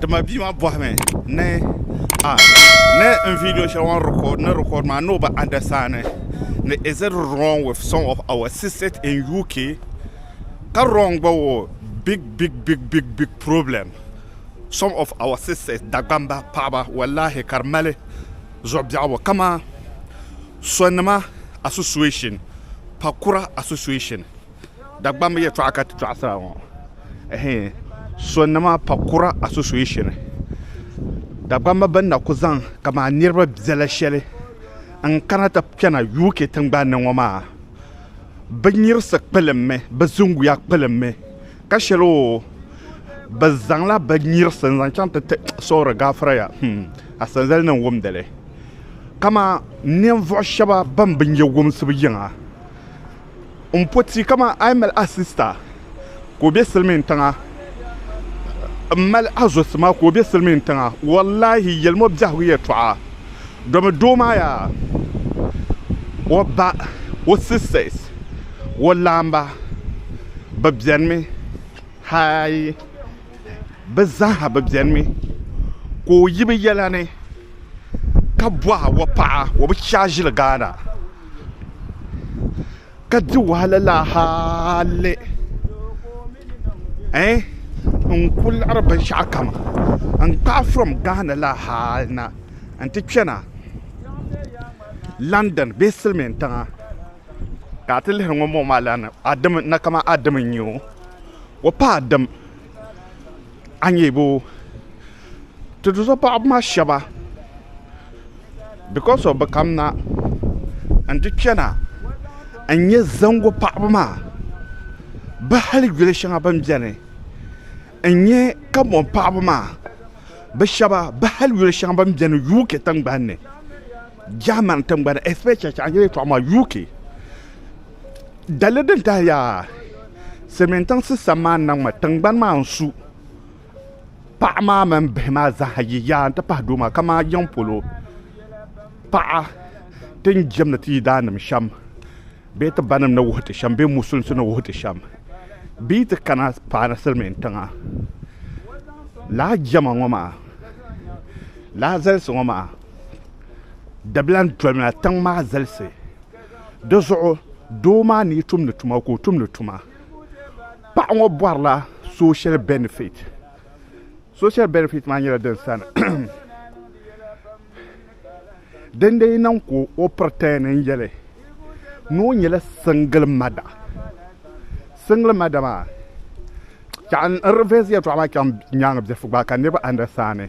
Dama bia maa bɔhimi ni ah ni n video shɛli ŋɔ record ni record maa ni o bi understand ni is it wrong with some of our sisters in UK ka wrong gba o big big big problem some of our sisters Dagbamba paɣaba walahi ka di mali zuɣu biɛhigu kaman Sonnima association Pakura association Dagbamba yɛltɔɣa ka ti tɔɣisira ŋɔ. ɛhɛɛn Sonnima Pakura Association Dagbamba bɛn na ku zaŋ kaman niriba biɛla shɛli n-kana ti kpɛna UK tiŋgbani ni ŋɔ maa bɛ nyirisi kpilimmi bɛ zuŋuya kpilimmi ka shɛli oo bɛ zaŋla bɛ nyirisi n-zaŋ chaŋ ti ti sɔɔri gaafira ya hmm Asanzali ni n-wumdi li kaman ninvuɣ shɛba bɛn bi nya wumsibu yiŋa n po ti kaman a yi mali a sista ka o be silimiin tiŋa m mali a zo sima ka o be silimiin tiŋa wallahi yelimo biɛhigu yɛltɔɣa domi doo maa yaa o ba o sisters o laamba bɛ benimi haai bɛ zaaha bɛ benimi ka o yi bɛ yɛlani ka bɔha wapaɣa o bi chɛ a ʒili Ghana ka di wahala laa hali ɛɛh n ku liɣiri binshɛɣu kam n kpaai from Ghana laa hali na n ti kpɛna London bee silimiin tiŋa ka a ti lihiri ŋun bɔŋɔ maa lana a dimi na kamani a dimi n-nyɛ o wapaɣa dim a nyɛ bɛ ti di zuɣu paɣaba maa shɛba bikos of bɛ kamina n-ti kpɛna n-nyɛ zaŋgu paɣaba maa bɛ hali yuli shɛŋa bɛ ni beni n-nyɛ Kamuŋ paɣaba maa bɛ shɛba bɛ hali yuli shɛŋa bɛ ni beni UK tiŋgbani ni Germany tiŋgbani especially UK Dali din tahi yaa silimiin tiŋsi sambani na ŋɔ tingbani maa n su paɣa maa mini bihi maa zaa yi yaa n ti pahi doo maa ka maa yiŋ polo paɣa ti ni jɛmdi ti yidaanima shɛm bee ti banim ni wuhiti shɛm bee musulinsi ni wuhiti shɛm bɛ yi ti kana paani silimiin tiŋa lala jɛma ŋɔ maa lala zalisi ŋɔ maa dabila n dolimi na tiŋ maa zalisi. Di zuɣu doo maa ni yi tumdi tuma ka o tumdi tuma paɣa ŋɔ bɔrila social benefit social benefit maa nyɛla din sani din dee niŋ ka o pretend n yɛli ni o nyɛla single mother single mother maa n reverse yɛltɔɣa maa chaŋ nyaanga biɛfugibaa ka niriba understand.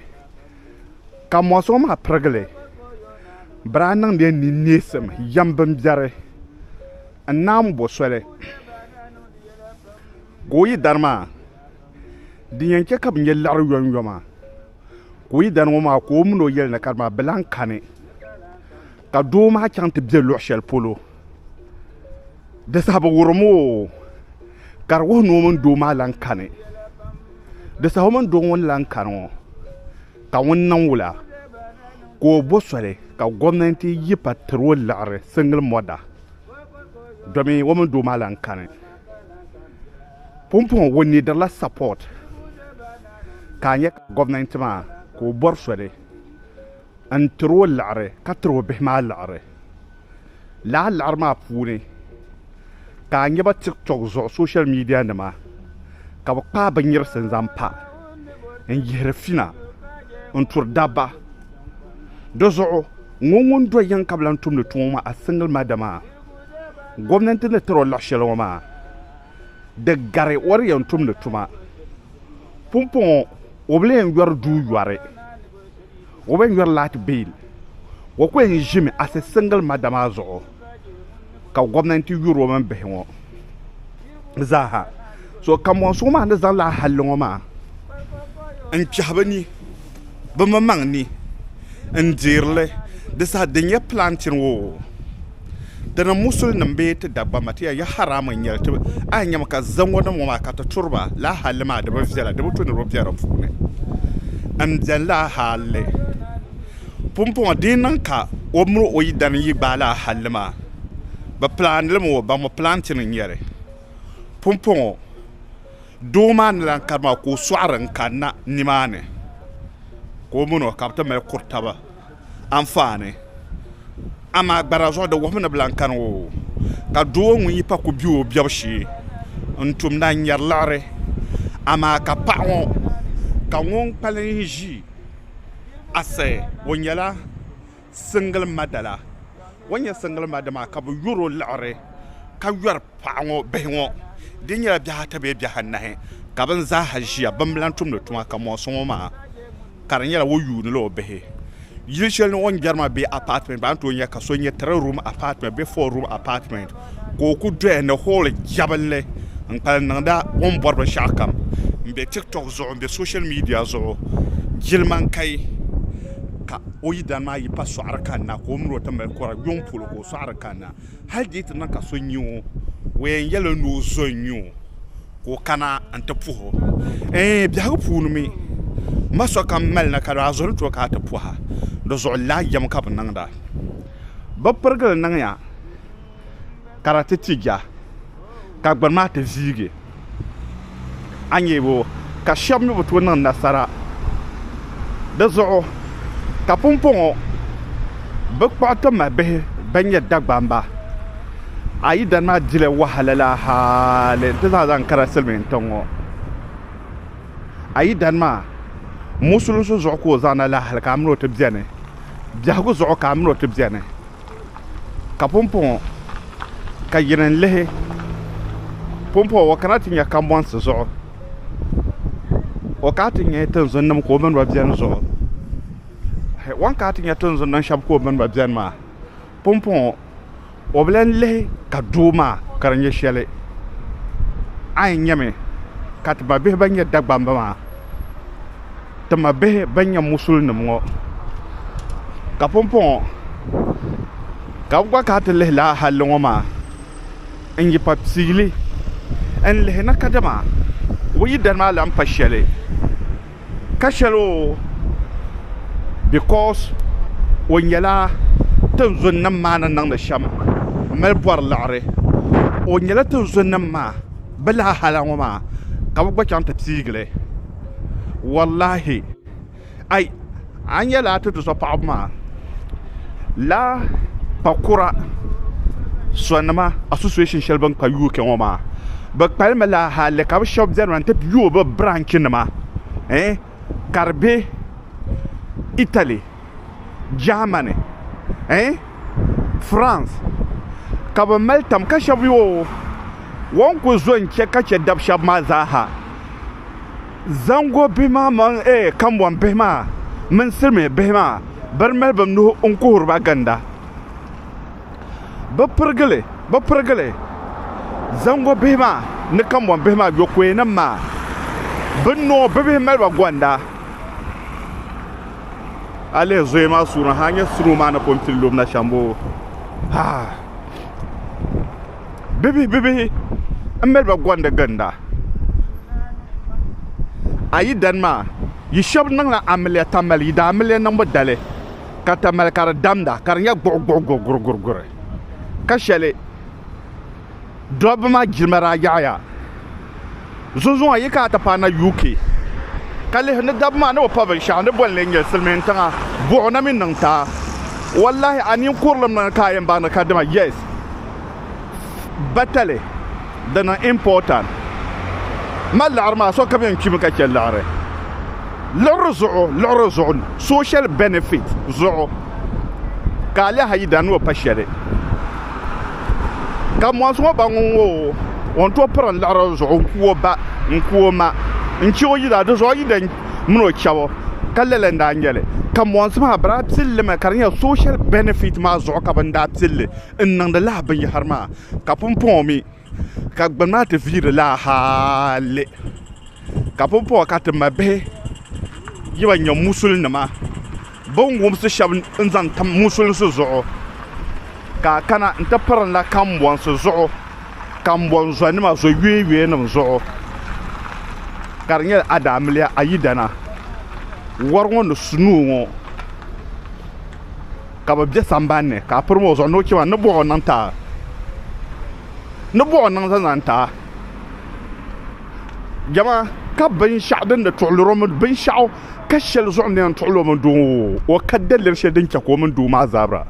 Ka mɔɣu suŋ maa pirigili biraa niŋdiya ni neesim yɛm bimbiɛri n-naam bo soli ka o yi dari maa din yɛn chɛ ka bɛ nya liɣiri yomyoma ka o yi dari ŋɔ maa ka o min o yɛli ni ka di maa bɛ lan kani. Ka doo maa chaŋ ti be luɣ shɛli polo, di saha bi wurim o, ka di wuhi ni o mini doo maa lan kani. Di saha o mini doo ŋɔ ni lan kani ŋɔ, ka ŋuni niŋ wula, ka o bo soli ka gomnanti yi pa tiri o liɣiri single mother domi o mini doo maa lan kani. Pumpɔŋɔ o nidirila support, ka a nya ka gomnanti maa ka o bɔri soli. n tiri o liɣiri ka tiri o bihi maa liɣiri lala liɣiri maa puuni ka a nya ba tiktok zuɣu soshal miidiya nima ka bɛ kpaai binnyirisi n zaŋ pa n yihiri fina n turi dabba di zuɣu ŋɔ ŋun do yiŋ ka bɛ lahi tumdi tuma ŋɔ a singili mada maa gomnanti ni tiri o liɣi sheli ŋɔ maa di gari o di yɛn tumdi tuma pumpɔŋɔ o bi lee yɔri duu yɔri. o bi yɛn nyɔri laati bill o ku yɛn ʒimi as a single mother maa zuɣu ka gɔmnanti yuri o mini bihi ŋɔ zaaha so kanbɔnsi maa ni zaŋla ahalli ŋɔ maa n kpɛhi bi ni bi maŋmaŋ ni n deeri li di saha din yɛn planting o Di ni musuli nim bee ti Dagbamba ti ya ya haramu n nyɛli ti a yi nyɛmi ka zaŋ ŋɔ niŋ ŋɔ maa ka ti turi ba laa halli maa di bi viɛla di bi tu ni di bɛ di puuni n bɛni laa halli pumpɔŋɔ di yi niŋ ka o mini o yidana yi gbaai laa halli maa bi pilaani li mi o ba ŋɔ pilaantin n nyɛli pumpɔŋɔ doo maa ni lan kari maa ka o sɔɣiri n kanna ni maa ni ka o mini o ka bi ti mali kuri taba anfaani, amaa gbara zuɣu di wuhimi ni bɛ lan kani o, ka doo ŋun yi pa ku be o biɛbu shee n-tum na n-nyari liɣiri, amaa ka paɣ ŋɔ ka ŋun kpalim ʒi a sayi o nyɛla single mother la, o ni nyɛ single mother maa ka bɛ yɔr o liɣiri ka yɔri paɣ ŋɔ bihi ŋɔ di nyɛla biɛhi ata bee biɛhi anahi ka bɛn zaa ha ʒiya bɛn bi lan tumdi tuma ka mɔɣisi ŋɔ maa. ka di nyɛla o yuunila o bihi yili shɛli ni o ni jɛri maa bee apartment baa n tooi nya ka so nyɛ three room apartment bee four room apartment ka o ku doya ni hall jɛbinli n kpalim niŋda o ni bɔri binshɛɣu kam n bɛ tiktok zuɣu n bɛ social media zuɣu jilima n kai ka o yidana maa yi pa sɔɣiri kanna ka o mini o ti mali kura yuŋ polo ka o sɔɣiri kanna Hal di yi ti niŋ ka so nya o, o yɛn yɛl o ni o zo n-nya o ka o kana nti puh o. Ɛɛn, biɛhigu puuni mi, ma sokam mali na ka daa zo ni ti o ka a ti puh a. Di zuɣu laa yɛm ka bɛ niŋda. Bɛ pirigili niŋya ka di ti ti ja. ka gbuni maa ti ziigi, a nyɛ o ka shɛba mi bi tooi niŋ nasara di zuɣu ka pumpɔŋɔ bɛ kpuɣi ti ma bihi bɛn nyɛ Dagbamba. A yidana maa dila wahala la hali nti zaa zaŋ kana silimiin tiŋ ŋɔ. A yidana maa musulinsi zuɣu ka o zaŋ na la hali ka a mini o ti beni, biɛhigu zuɣu ka a mini o ti beni. ka pumpɔŋɔ ka yini n-lihi pumpɔŋɔ o kana ti nya kambɔnsi zuɣu o kana ti nya tinzunima ka o mini ba beni zuɣu o ni kana ti nya tinzunima shɛba ka o mini ba beni maa pumpɔŋɔ o bi lan lihi ka doo maa ka di nyɛ shɛli a yɛn nyami ka ti mabihi ban nyɛ Dagbamba maa tima bihi ban nyɛ musulinim ŋɔ ka pumpɔŋɔ ka bɛ gba kana ti lihi lala halli ŋɔ maa n-yi pa piili n-lihi na kadama o yi dani maa lan pa shɛli ka shɛli o bikɔs o nyɛla tinzunnim maa ni niŋdi shɛm m-mali bɔri liɣiri o nyɛla tinzunnim maa bɛ lala hali ŋɔ maa ka bɛ gba chaŋ ti piigi li wallahi ai a nya laa ti du so paɣaba maa laa pa kura sonima association shɛli bin kpa UK ŋɔ maa bi kpalimi laa hali ka bi shɛba bɛni maa n ti yooi bi branch nima ka di bɛ Italy Germany eh France ka bɛ mali tam ka shɛba yoo o ni kuli zo n-chɛ ka chɛ dab shɛba maa zaa ha zaŋgo bihi maa mini eh kambɔŋ bihi maa mini silimiin bihi maa bɛ di mali bɛ nuhi n-kuhiri ba ginda bɛ pirigili bɛ pirigili zaŋgo bihi maa ni kambɔŋ bihi maa yɔkɔyɛnim maa bɛ noo bibihi mali ba gɔnda. a lihi zoya maa suurina ha nyɛ suro maa ni pun pili lubina shɛm boo ha bibihi bibihi n mali ba gondi ginda a yi dani maa yi shɛb niŋla amiliya tamali yi daa amiliya niŋbu dali ka tamali ka di damda ka di nyɛ guɣu guɣu guɣu guri guri guri ka shɛli Dobba maa jirimi daa yaɣiya. Zunzuŋɔ yi kana ti paai na UK ka lihi ni dabba maa ni bi pa binshɛɣu ni boli ni n nyɛ silimiin tiŋa buɣu na mi niŋ taa. Wallahi a nin kurilim na ni ka a yɛn baŋ di ka dima yes batali di niŋ important. Mali liɣiri maa sokam yɛn kpimi ka chɛ liɣiri. Liɣiri zuɣu liɣiri zuɣu social benefit zuɣu ka a lihi a yidana ni o pa shɛli. ka mɔɣisi ŋɔ ba ŋun ŋɔ o ni tooi piri n-liɣiri o zuɣu n-ku o ba n-ku o ma n-che o yila di zuɣu yidana mini o chɛbu ka lala n-daa nyɛ li ka mɔɣisi maa bɛ daa pili li mi ka di nyɛ soshal bɛnifit maa zuɣu ka bɛ ni daa pili li n-niŋdi lala binyɛhiri maa ka pumpɔŋɔ mi ka gbuni maa ti viiri laa hali ka pumpɔŋɔ ka ti mabihi yi ban nyɛ musulinima bini wumsi shɛba n-zaŋ tam musulinsi zuɣu ka kana n-ti pirinda kambɔnsi zuɣu kambɔnzɔnima zɔyuyoyuyanima zuɣu ka di nyɛla adaamiliya ayidana wari ŋɔ ni su nuu ŋɔ Ka bɛ be samban ni, ka a pirim o zuɣu ni o chɛ ma ni bɔh o niŋ ta, ni bɔh o niŋ zanzan ta. Jama ka binshɛɣu din ni tuɣilir o mini binshɛɣu ka shɛli zuɣu ni yɛn tuɣil o mini doo ŋɔ o ka daliri shɛli din chɛ ka o mini doo maa zabira.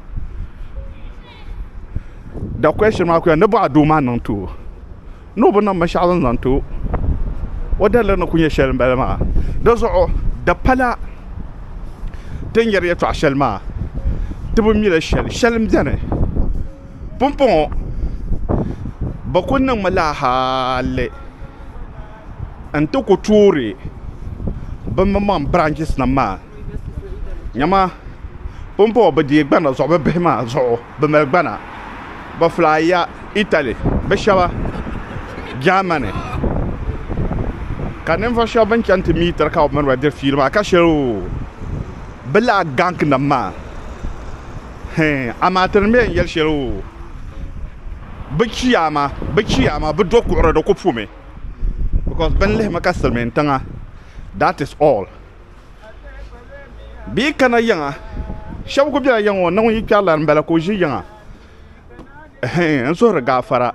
The question maa ku ya ni bɔh a doo maa niŋ ti o. ni o bi niŋ binshɛɣu din zaŋ ti o o daliri ni ku nyɛ shɛli m-bala maa dizuɣu di pala ti ni yɛri yɛtɔɣ shɛli maa ti bi mi li shɛli shɛli m-beni pumpɔŋɔ bɛ kuli niŋmi la hali n-ti ku toori bimbɔŋ biraanchisi maa nyama pumpɔŋɔ bɛ deei gbana zuɣu bɛ bihi maa zuɣu bɛ mali gbana bɛ fulaaya Italy bɛ shɛba Germany ka ninvuɣ shɛba bɛn chani ti mi tiri ka bɛ mini ba diri fiili maa ka shɛli o bɛ lala ganknima maa hɛɛn amaa ti ni mi yɛn yɛli shɛli o bɛ chiyaama bɛ chiyaama bɛ do kuɣiri di ku pumi bikɔs bɛ ni lihimi ka silimiintiŋa that is all. Bɛ yi kana yiŋa shɛba kuli bela yiŋa ŋɔ na ŋun yi kpɛri lana m-bala ka o ʒi yiŋa ɛhɛin n suhiri gaafara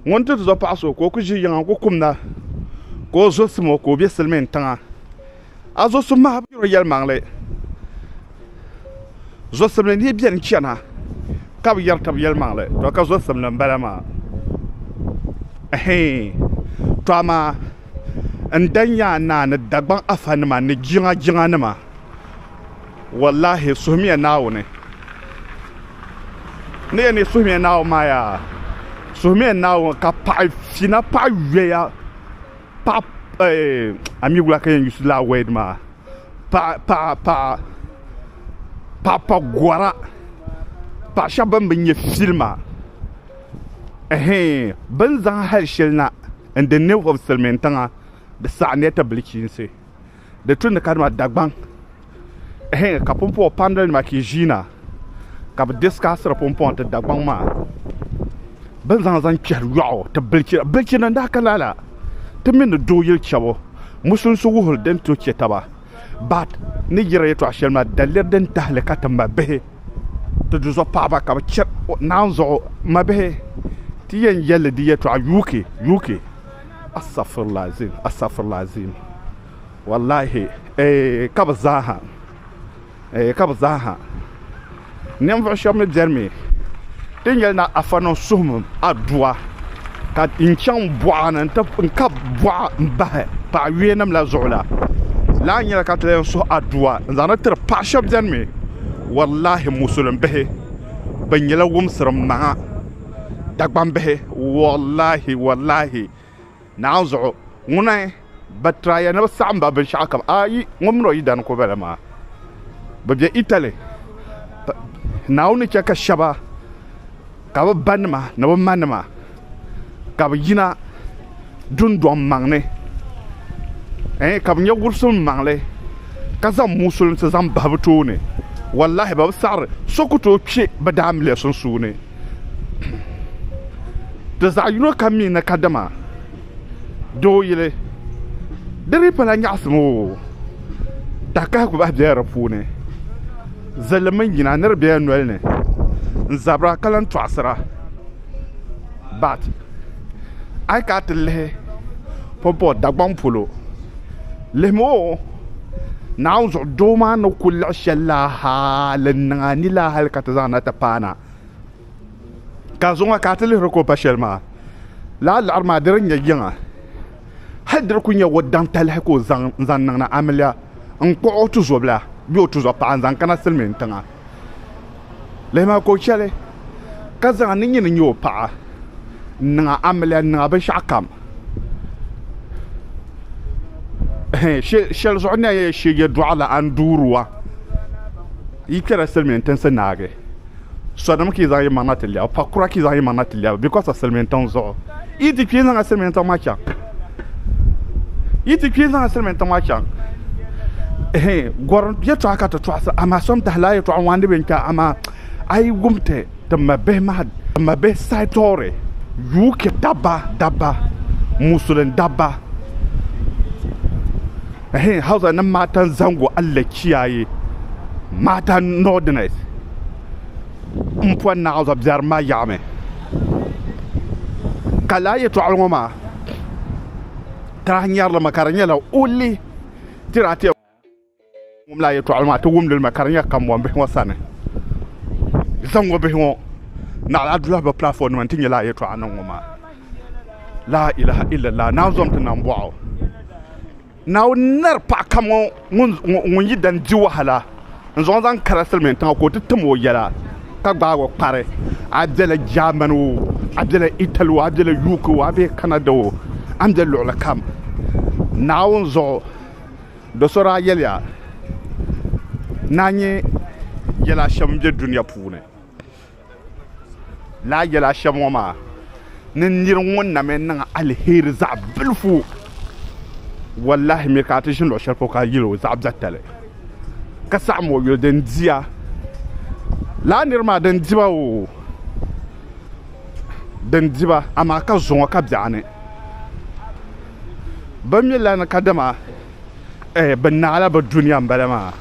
ŋun ti zo paɣa so ka o kuli ʒi yiŋa n-kuli kumda ka o zo sima o ka o be silimin tiŋa a zo sim maa a bi yuri yɛlimaŋli zo simli ni yi beni chana ka bi yɛri taba yɛlimaŋli to ka zo simli m-bala maa ɛhɛin to amaa. n-da nya a naa ni Dagbaŋ afanima ni jiŋa jiŋanima. Wallahi suhimiya Naawuni. Ni yɛn ni yi suhimiya Naawuni maa yaa, suhimiya Naawuni ka paɣi fina paɣi yoya paɣi eh a mi wula ka yɛn yusi lala word maa paɣi paɣi paɣi paɣi pa gɔra paɣi shɛba bɛn bi nya filima ɛhɛɛn bɛ ni zaŋ hali shɛli na. n di ninvuɣu silmiin tiŋa di saɣa ni ti bilichiinsi di tu ni ka dima Dagbaŋ ehe ka pumpɔŋɔ panili nima ki ʒiina ka bi diskaasiri pumpɔŋɔ ti Dagbaŋ maa bin zaŋ zaŋ kpɛri yɔɣu ti bilichira bilichina n daa ka lala ti mini di doo yili chabu musunsu wuhiri din to chɛ taba Baat ni yiri yɛtɔɣ shɛli maa daliri din tahili ka ti mabihi ti duzuɣu paɣiba ka bɛ chɛ naanzuɣu mabihi ti yɛn yɛl li di yɛtɔɣ UK, UK, Astagfirullahalazim, Astagfirullahalazim, wallahi, eeh, ka bɛ zaa ha. ka bi zaa ha ninvuɣu shɛba mi bɛni mi ti ni yɛli ni afa niŋ suhim aduwa ka n chaŋ bɔɣa ni n kabi bɔɣa n bahi paɣa yuya nim la zuɣu la lala nyɛla ka ti lan yɛn suhi aduwa n zaŋ li tiri paɣa shɛba bɛni mi walahi musulin bihi bi nyɛla wumsir maŋa Dagbaŋ bihi walahi walahi Naanzuɣu, ŋuna bɛ tira ya ni bɛ saɣim ba binshɛɣu kam. A yi ŋun mini o yidana ku bela maa, bɛ be Italy. Naawuni ni chɛ ka shɛba ka bɛ banima ni bɛ manima ka bɛ yina dundɔŋ maŋ ni, ɛɛn, ka bɛ nya wurisilim maŋli ka zaŋ muusulinsi zaŋ bahi bɛ tooni. Wallahi, bɛ bi saɣiri so ku tooi kpe bɛ daamiliya sunsuuni. Di zaɣ yino kam mi ni kadama doo yili di dii pala nyaɣisim oo, takahigu bahi bela di puuni, zilli mini nyina ni di bela noli ni n-zabira ka lan tɔɣisira but a yi kana ti lihi pumpɔŋ Dagbaŋ polo lihimi oo. Naawuni zuɣu doo maa ni ku liɣi shɛli la hali n-niŋ a ni la hali ka ti zaŋ na ti paana ka zuŋɔ ka a ti lihiri ka o pa shɛli maa lala liɣiri maa di di nyɛ yiŋa hali di di ku nyɛ o daŋ talahi ka o zaŋ n-zaŋ niŋ na amiliya n-kpuɣi o tuzobila bee o tuzɔpaɣa n-zaŋ kana silimiintiŋa. Lihi maa ka o chɛli ka zaŋ a ni nyini nyɛ o paɣa n-niŋ a amiliya n-niŋ a binshɛɣu kam shɛli zuɣu ni a yɛn she yɛltɔɣa la a ni duuri wa yi kpɛrila silimiin tinsi naagi sodom ka yi zaŋ yi maŋ na ti lɛbu pakura ka yi zaŋ yi maŋ na ti lɛbu bikos of silimiin tiŋ zuɣu Yi ti kpi zaŋ Silimiin tiŋ maa chaŋ. Yi ti kpi zaŋ Silimiin tiŋ maa chaŋ. Ehe, gɔrim yɛtɔɣa ka ti tɔɣisi, amaa so n-dahi lala yɛtɔɣa ŋɔ a ni bɛ n-kpɛ, amaa a yi wum ti ti mabihi maa, ti mabihi saitɔri UK dabba, dabba, Musulin dabba, ehe, Hausa ni matan zango Allah kiyaye, matan Northerners. n pɔi naɣila zuɣu biɛrim maa yaɣa mi ka laa yɛtɔɣili ŋɔ maa tarahi nyɛri li mi ka di nyɛla o li tiri a tɛm wum laa yɛtɔɣili maa ti wum li mi ka di nyɛ kambɔn bihi ŋɔ sani zaŋɔ bihi ŋɔ naɣila adula bi platform nima n ti nyɛ laa yɛtɔɣa niŋ ŋɔ maa laa ilaha illallah naanzɔm ti nam bɔɣu. Naawuni n-nari paɣ kam ŋun yi dan di wahala n-zaŋ o zaŋ kara silimiin tiŋa ka o ti tim o yɛla ka gbaag o kpari, a bela Jaamani o, a bela Itali o, a bela UK o, a be Kanada o, a ni be luɣili kam Naawuni zuɣu do so daa yɛliya ni a nya yɛla shɛb n-be dunia puuni. Naa yɛl a shɛm ŋɔ maa, ni nir ŋun na mi niŋ aliheri zaɣ bilifu, wallahi mi ka a ti ʒini luɣ shɛli polo ka yɛl o zaɣ biɛtali, ka saɣim o yuli din di ya. Lala nir maa din di ba oo, din di ba, amaa ka zo ŋɔ ka biɛɣu ni. Bɛ mi lana kadama bɛ naala bɛ dunia m-bala maa.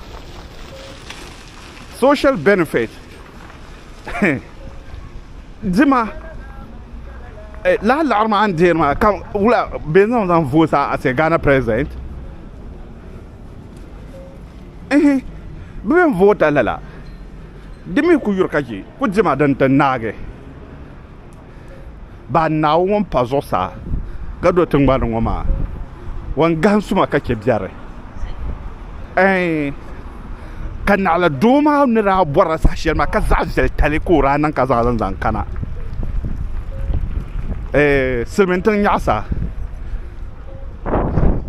social benefit dima eh, lahi laɣiri maa n deeri maa ka wula bɛ zaŋ zaŋ vote a ase Ghana president ehe bɛ bɛ vote lala di mi ku yuri ka je ku dima din ti naagi Bahi Naawuni ŋun pa zuɣusaa ka do tiŋgbani ŋɔ maa, o ni gahim suma ka chɛ biɛri. Ɛɛn! Ka naɣila doo maa ni daa bɔrila saha shɛli maa ka zaɣ viɛli tali ka o daa niŋ ka zaŋ li n-zaŋ kana ɛɛn silimiintiŋ nyɛɣisa.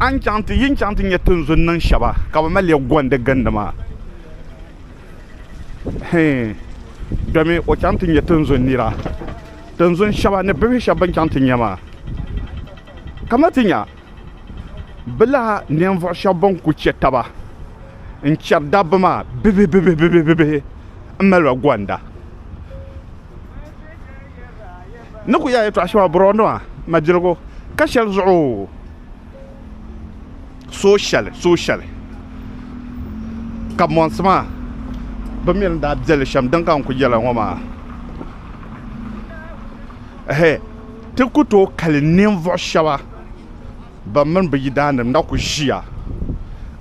A ni chaŋ ti, yi ni chaŋ ti nya tinzun niŋ shɛba ka bɛ mali ya gɔndi gindi maa. hɛɛn domi o chaŋ ti nyɛ tinzun nira tinzun shɛba ni bihi shɛba bɛn chaŋ ti nyɛ maa kamani ti nya bɛ lahi ninvuɣ shɛba bɛn kul chɛ taba n-chɛri dabba maa bibihibibihi m-mali ba gɔnda ni kul yɛla yɛtɔɣ shɛba bɔrɔnima majirigu ka shɛli zuɣu Suhushɛli suhushɛli ka mɔnsi maa bɛ mi ni daa be li shɛm din ka n kuli yɛli a ŋɔ maa ɛhɛɛ ti ku tooi kali ninvuɣ shɛba ban mini bɛ yidaannim ni na ku ʒiya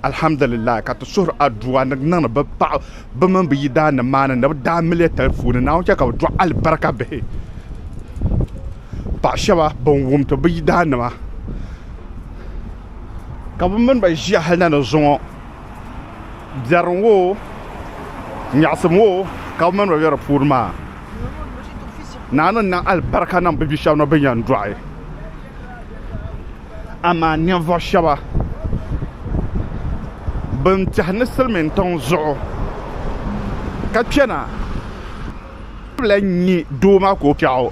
alhamdulillahi ka ti suhiri aduwa ni niŋdi bɛ paɣ bɛ mini bɛ yidaannim maa ni ni bɛ daa miliya tali puuni Naawuni chɛ ka bɛ dɔɣi alibarika bihi paɣ shɛba ban wumdi bɛ yidaannima ka bɛ mini ba ʒiya hali na ni zuŋɔ biɛri ŋɔ nyaɣisim ŋɔ ka bɛ mini ba be di puuni maa Naawuni n niŋ alibarika niŋ bɛ bi'shɛba ni bɛ yɛn dɔɣi amaa ninvuɣu shɛba ban tɛhi ni silimin tiŋ zuɣu ka kpɛna bɛ lahi nya doo maa ka o kpiɛɣu.